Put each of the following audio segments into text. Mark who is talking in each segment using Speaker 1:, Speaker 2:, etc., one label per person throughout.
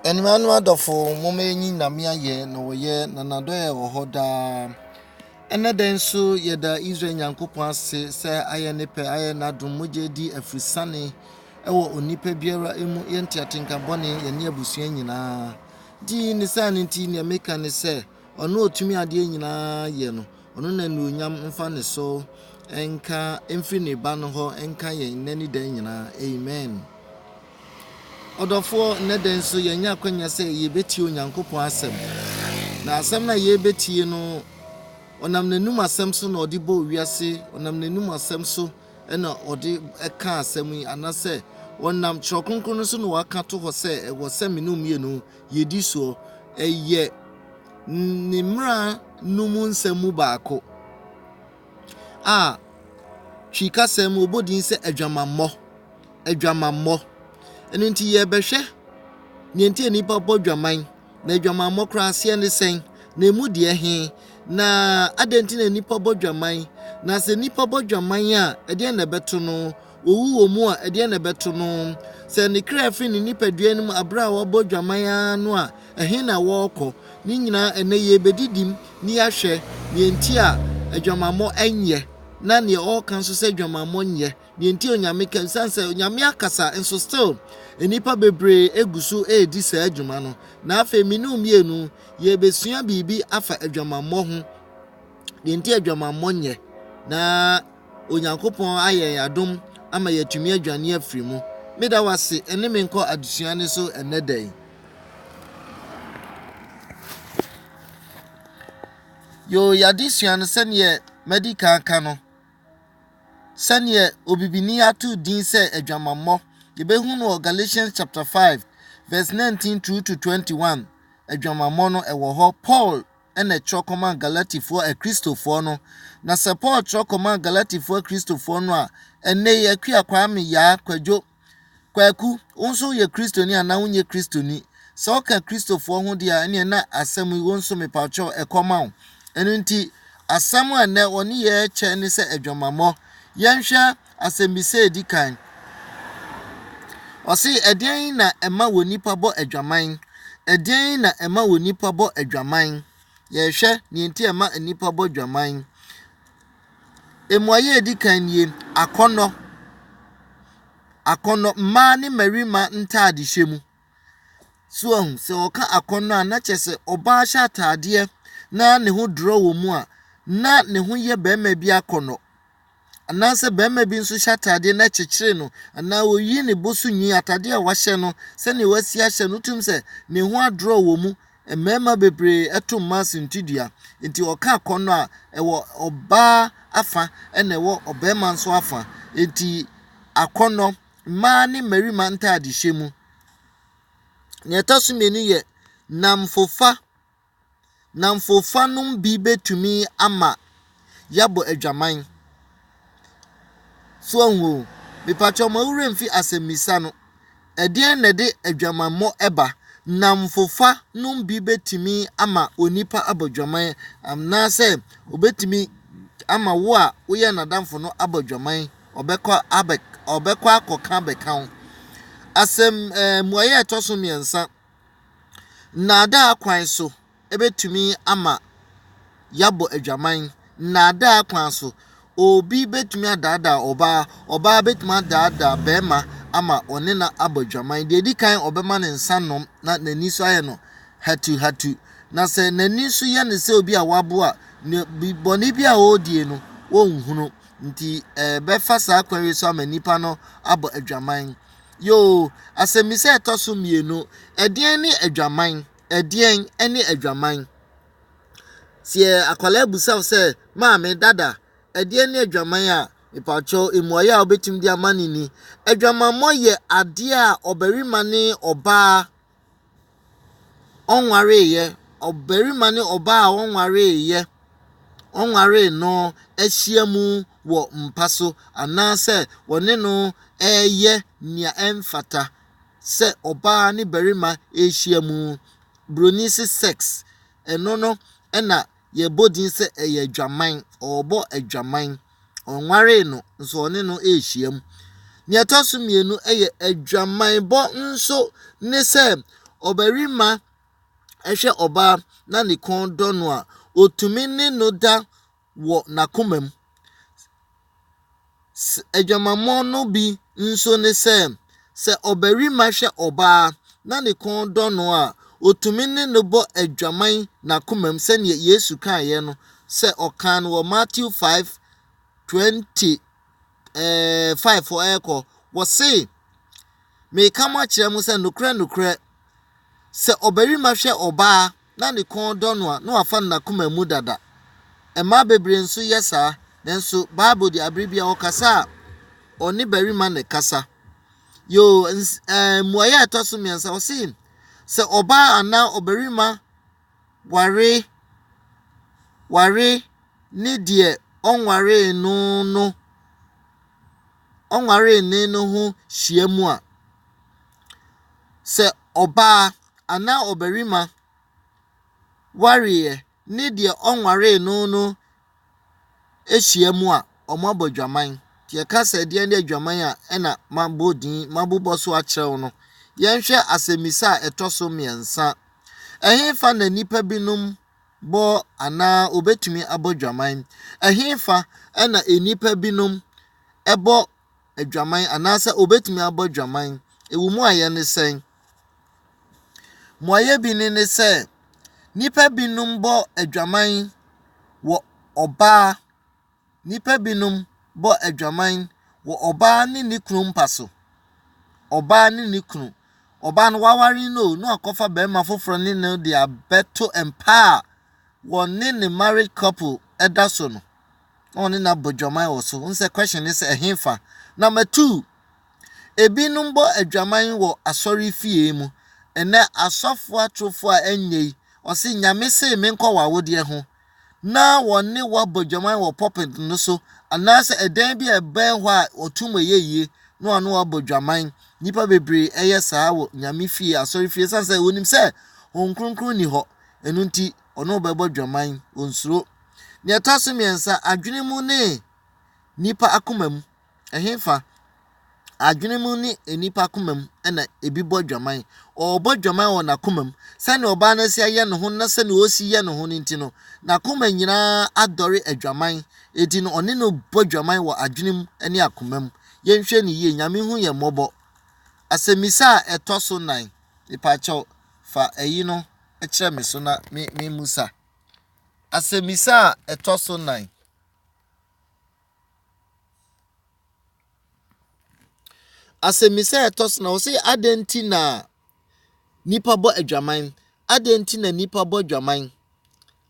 Speaker 1: Anuanom adɔfo, momma yɛnyi Nyame ayɛ na ɔyɛ na n'adɔe wɔ hɔ daa. Ɛnɛ da nso yɛda Israel Nyankopɔn ase sɛ ayɛ ne pɛ, ayɛ n'adom, mogya di afisane ɛwɔ onipa biara mu, yɛn nteatenka bɔne, yɛne abusua nyinaa. Di ne saa no nti, nea meka ne sɛ, Ɔno a otumi adeɛ nyinaa yɛ no, ɔno na anuonyam mfa ne so nka mfiri ne ba no hɔ nka yɛn nnɛ ne daa nyinaa. Amen. Ɔdɔfoɔ, nnɛ da nso yɛanya akwanya sɛ yɛbɛtie Onyankopɔn asɛm. Na asɛm no a yɛrebɛtie no, ɔnam n'anom asɛm so na ɔde bɔɔ wiase, ɔnam n'anom asɛm so na ɔde ka asɛm yi, anasɛ ɔnam Twerɛ Kronkron no so na waka to hɔ sɛ ɛwɔ sɛ me ne wo mmienu yedi soɔ. Ɛyɛ Ne mmara no mu nsɛm mu baako a Twi kasa mu wɔbɔ din sɛ adwamammɔ, adwamammɔ. Ɛno nti yɛrebɛhwɛ deɛ nti a nnipa bɔ dwaman, na adwamammɔ koraa aseɛ ne sɛn, na emu deɛ he, na adɛn nti na nnipa bɔ dwaman, na sɛ nnipa bɔ dwaman a, ɛdeɛn na ɛbɛto no. Owu wɔ mu a, ɛdeɛn na ɛbɛto no? Sɛ ne kra firi ne nipadua no mu aberɛ a wabɔ dwaman ara no a, ɛhe na wɔrekɔ? Ne nyinaa, ɛnnɛ yɛrebɛdidim na yɛahwɛ deɛ nti a adwamammɔ nyɛ, na deɛ ɔreka nso sɛ adwamammɔ nyɛ, deɛ nti a Onyame ka, ɛsiane sɛ Onyame akasa nso still nnipa bebree gu so redi saa dwuma no. Na afei me ne wo mmienu yɛrebɛsua biribi afa adwamammɔ ho, deɛ nti a adwamammɔ nyɛ, na. Onyankopɔn ayɛ yɛn adom ama yɛatumi adwane afiri mu. Meda wo ase ɛne me nkɔ adesua no so ɛnnɛ da yi. Yoo, yɛadesua no sɛdeɛ madi kan ka no, sɛdeɛ obibini ato din sɛ adwamammɔ. Yɛbɛhu no wɔ Galatians chapter 5 verse 19 through to 21. Adwamammɔ no ɛwɔ hɔ. Paul na ɛtwerɛ kɔmaa Galatifoɔ Akristofoɔ no, na sɛ Paul twerɛ kɔmaa Galatifoɔ Akristofoɔ no a, ɛnnɛ yi Akua Kwame, Yaa, Kwadwo, Kwaku, wo nso woyɛ Kristoni anaa wonyɛ Kristoni? Sɛ woka Kristofoɔ ho deɛ a, ɛneɛ na asɛm yi wo nso mepakyɛw ɛkɔma wo. Ɛno nti, asɛm a nnɛ wɔne yɛn rekyɛ ne sɛ adwamammɔ. Yɛnhwɛ Asɛmmisa a Edi Kan, Ɔse, Ɛdeɛn na ɛma onipa bɔ adwaman? Ɛdeɛn na ɛma onipa bɔ adwaman? Yɛrehwɛ deɛ nti a ɛma nnipa bɔ dwaman. Mmuaeɛ a ɛdi kan nie, akɔnnɔ. Akɔnnɔ, mmaa ne mmarima ntaadehyɛ mu. So ahu, sɛ wɔka akɔnnɔ a, na kyerɛ sɛ ɔbaa hyɛ ataadeɛ na ne ho dorɔ wɔ mu a, na ne ho yɛ barima bi akɔnnɔ. Anaasɛ barima bi nso hyɛ atadeɛ na ɛkyekyere no anaa ɔyi ne bo so nwi, atadeɛ a wahyɛ no sɛdeɛ wasi ahyɛ no wotum sɛ ne ho adrɔ wɔ mu. Mmarima bebree ɛto mmaa suntidua, enti ɔka akɔnnɔ a, ɛwɔ ɔbaa afa ɛna ɛwɔ ɔbarima nso afa. Enti akɔnnɔ, mmaa ne mmarima ntaadehyɛ mu. Nea ɛtɔ so mmienu yɛ nnamfofa nnamfofa no bi betumi ama yɛabɔ adwaman. So ahu o? Mepatwɔ mo werɛ mfi asɛmmisa no. Ɛdeɛn na ɛde adwamammɔ ɛba? Nnamfofa no bi betumi ama onipa abɔ dwaman anaasɛ obetumi ama wo a woyɛ n'adamfo no abɔ dwaman. Ɔbɛkɔ abɛ ɔbɛkɔ akɔka abɛka wo. Asɛm ɛɛ mmuaeɛ a ɛtɔ so mmiɛnsa. Nnaadaa kwan so bɛtumi ama yɛabɔ adwaman, nnaadaa kwan so, obi bɛtumi adaadaa ɔbaa, ɔbaa bɛtumi adaadaa barima ama ɔne no abɔ adwaman. Deɛ ɛdi kan ɔbɛma ne nsa nom na n'ani nso ayɛ no hatuhatu. Na sɛ n'ani nso yɛ no sɛ obi a wabo a, ne bi bɔne bi a ɔredie no, ɔnhunu. Nti ɛbɛfa saa kwan yi so ama nipa no abɔ adwaman. Yoo, asɛmmisa a ɛtɔ so mmienu, Ɛdeɛn ne adwaman? Ɛdeɛn ne adwaman? Sɛ akwadaa bisa wo sɛ, Maame, Dada, ɛdeɛn ne adwaman a, mepakyɛw, mmuaeɛ a wobɛtumi de ama no ni, Adwamammɔ yɛ adeɛ a ɔbarima ne ɔbaa ɔnwareeɛ, ɔbarima ne ɔbaa a ɔnwareeɛ, ɔnwaree no ahyia mu wɔ mpa so anaasɛ wɔne no reyɛ nea ɛmfata sɛ ɔbaa ne barima rehyia mu. Buroni se sex, ɛno no na. yɛbɔ din sɛ ɛyɛ adwaman, ɔrebɔ adwaman. Ɔnwaree no, nso ɔne no rehyiam. Nea ɛtɔ so mmienu yɛ adwamanbɔ nso ne sɛ ɔbarima hwɛ ɔbaa na ne kɔn dɔ no a, otumi ne no da wɔ n'akomam. Adwamammɔ no bi nso ne sɛ, sɛ ɔbarima hwɛ ɔbaa na ne kɔn dɔ no a, otumi ne no bɔ adwaman n'akomam sɛnea Yesu kaeɛ no sɛ ɔkaa no wɔ Matthew 5:25 hɔ rekɔ. Wɔse, Mereka mo akyerɛ mo sɛ nokorɛ nokorɛ, sɛ ɔbarima hwɛ ɔbaa na ne kɔn dɔ no a, na wafa no n'akoma mu dada. Mmaa bebree nso yɛ saa, nanso Bible de, bere biara ɔkasa a, ɔne barima na ɛkasa. Yoo, ns ɛɛ mmuaeɛ a ɛtɔ so mmiɛnsa, ɔse sɛ ɔbaa anaa ɔbarima ware ware ne deɛ ɔnwaree no no ɔnwaree ne no ho hyia mu a, sɛ ɔbaa anaa ɔbarima wareeɛ ne deɛ ɔnwaree no no hyia mu a, wɔabɔ adwaman. Nti yɛka sɛ deɛ ne adwaman a ɛna mabɔ din mabobɔ so akyerɛw no. Yɛnhwɛ asɛmmisa a ɛtɔ so mmiɛnsa. Ɛhefa na nnipa binom bɔ anaa obetumi abɔ dwaman? Ɛhefa na nnipa binom bɔ adwaman anaasɛ obetumi abɔ adwaman. Ewu mu ayɛ ne sɛn? Mmuaeɛ bi ne ne sɛ, nnipa binom bɔ adwaman wɔ ɔbaa, nnipa binom bɔ adwaman wɔ ɔbaa ne ne kunu mpa so. Ɔbaa ne ne kunu. Ɔbaa no waware no na wakɔfa barima foforɔ ne no de abɛto mpa a wɔne ne married couple da so no. na ɔne no abɔ adwaman wɔ so. Nsɛ question ne sɛ ɛhefa. Number two, ebinom bɔ adwaman wɔ asɔre fie mu. Ɛnɛ asɔfo atorofo a ɛnyɛ yi, ɔse nyame see menkɔ w'awodeɛ ho na wɔne wabɔ adwaman wɔ pulpit no so anaasɛ ɛdan bi a ɛbɛn hɔ a ɔtum ɛyɛ yie na ɔne wabɔ adwaman. Nnipa bebree ɛyɛ saa wɔ nyame fie, asɔre fie, sane sɛ wɔnim sɛ Honhom Kronkron ni hɔ. Ɛno nti, ɔne wo bɛbɔ dwaman, onsuro. Nea ɛtɔ so mmiɛnsa, adwene mu ne nipa akoma mu. Ɛhefa? Adwene mu ne nipa akoma mu na ebi bɔ dwaman. Ɔrebɔ dwaman wɔ n'akoma mu. Sɛnea ɔbaa no asi ayɛ ne ho na sɛnea ɔsi yɛ ne ho no nti no, n'akoma nyinaa adɔre adwaman. Eti no, ɔne no bɔ dwaman wɔ adwene mu ne akoma mu. Yɛnhwɛ no yie, Nyame hu yɛn mmɔbɔ. Asɛmmisa a ɛtɔ so nan, mepaakyɛw, fa ɛyi no. kyerɛ me so na me memmusa. Asɛmmisa a ɛtɔ so nan. Asɛmmisa a ɛtɔ so na wɔsɛ adɛn nti na nipa bɔ adwaman? Adɛn nti na nipa bɔ adwaman?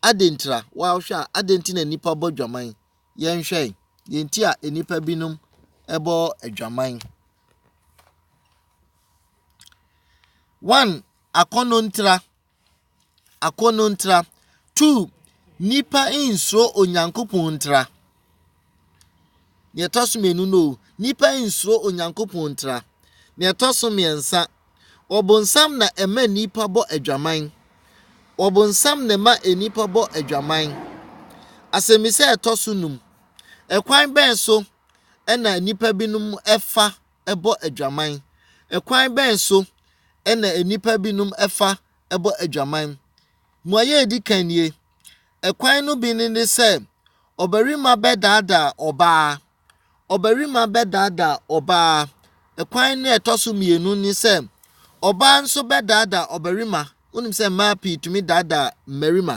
Speaker 1: Adɛn ntira wɔahwɛ a adɛn nti na nipa bɔ adwaman? Yɛnhwɛ deɛ nti a nnipa binom bɔ adwaman. One Akɔnnɔ ntra, akɔnnɔ ntra. Two, nnipa nsuro Onyankopɔn ntra. Nea ɛtɔ so mmienu no, nnipa nsuro Onyankopɔn ntra. Nea ɛtɔ so mmiɛnsa, ɔbonsam na ɛma nnipa bɔ adwaman. Ɔbonsam na ɛma nnipa bɔ adwaman. Asɛmmisa a ɛtɔ so num, ɛkwan bɛn so na nnipa binom fa bɔ adwaman? Kwan bɛn so na nnipa binom fa bɔ adwaman? Mmuae a edi kan nie, Kwan no bi ne ne sɛ ɔbarima bɛdaadaa ɔbaa. Ɔbarima bɛdaadaa ɔbaa. Kwan no a ɛtɔ so mmienu ne sɛ ɔbaa nso bɛdaadaa ɔbarima. Wonim sɛ mmaa pii tumi daadaa mmarima.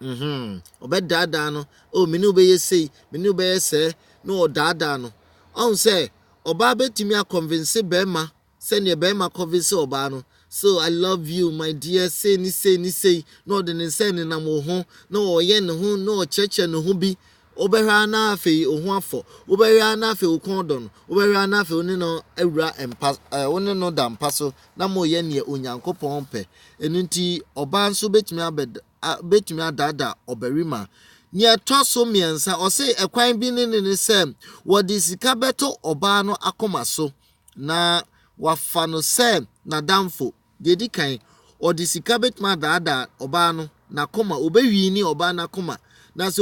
Speaker 1: Mm-hmm. Ɔbɛdaadaa no. Oh, me ne wo bɛyɛ sei, me ne wo bɛyɛ sɛɛ. Na ɔdaadaa no. Ɔhu sɛ ɔbaa bɛtumi akɔnvinse bɛrima sɛdeɛ bɛrima kɔnvinse ɔbaa no. So, I love you, my dear, sei ne sei ne sei. Na ɔde ne nsa nenam wo ho, na ɔyɛ ne ho, na ɔkyerɛkyerɛ ne ho bi. Wobɛhwɛ ara na afei wo ho afɔ. Wobɛhwɛ ara na afei wo kɔn redɔ no. Wobɛhwɛ ara na afei wo ne no awura mpa, ɛɛ wo ne no da mpa so na moreyɛ nea Onyankopɔn pɛ. Ɛno nti, ɔbaa nso bɛtumi abɛd a bɛtumi adaadaa ɔbarima. Nea ɛtɔ so mmiɛnsa, ɔse ɛkwan bi ne ne ne sɛ wɔde sika bɛto ɔbaa no akoma so na wafa no sɛ n'adamfo. Deɛ ɛdi kan, ɔde sika bɛtumi adaadaa ɔbaa no n'akoma. Ɔbɛwini ɔbaa no akoma. Na sɛ